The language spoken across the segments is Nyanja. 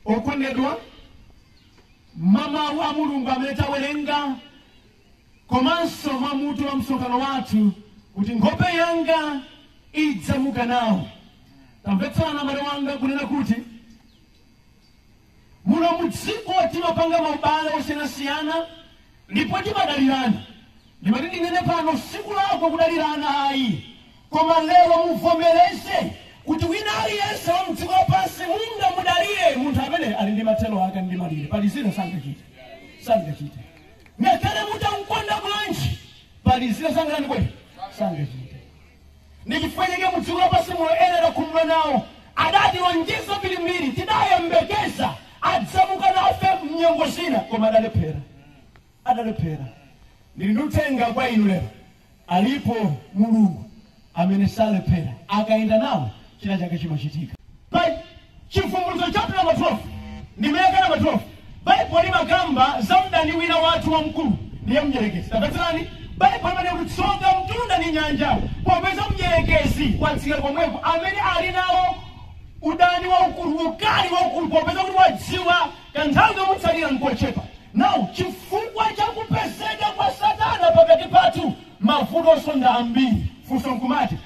okondedwa mwa mawu a mulungu amene tawerenga komanso mwa mutu wa msonkhano wathu kuti nkhope yanga idzamuka nawo tamvetsana mbale wanga kunena kuti Muno mu dziko timapanga maubale osiyanasiyana ndipo timadalirana. Ndimati ndinene pano sikulakwa kudalirana ayi koma lero muvomereze kuti wina aliyense wa mdziko lapansi mungamudalire ndi munthu amene ali ndi mathero ake ndi malire pali zina sangachite sangachite ngakhale mutamukonda bwanji pali zina sangakwanitse sangachite ndi chifukwa chake mu dziko lapansi muno ena tidakhumudwa nawo adatilonjeza mbirimbiri tidayembekeza adzamuka nafe mnyengo zina koma adalephera adalephera ndili ndi uthenga kwa inu lero alipo mulungu amene salephera akayenda nawo china chake chimachitika Pa- Chivumbulutso chapter number 12 ndime yake number 12, Bible imakamba za mdani wina wathu wamkulu, ndiye Mdyerekezi. Tamvetserani, Bible imanena kuti, Tsoka mtunda ndi nyanja, popeza Mdyerekezi watsika komweko, amene ali nawo udani waukulu, ukali waukulu, popeza kuti wadziwa kanthawi kamutsalira nkochepa. Now, chifukwa cha kupezeka kwa Satana pakati pathu, mavutonso ndi ambiri. Funso nkumati,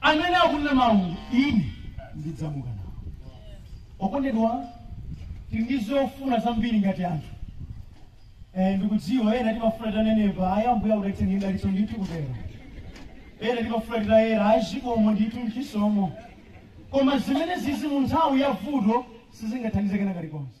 amene akunena mawu ine ndidzamuka nawo okondedwa tili ndi zofuna zambiri ngati anthu Eh, ndikudziwa ena timafuna titanenepa ayi Ambuye akudalitseni dalitso ndithu kutero ena timafuna titayera ayi zikomo ndithu mchisomo koma zimenezizi mu nthawi ya vuto sizingathandize kena kalikonse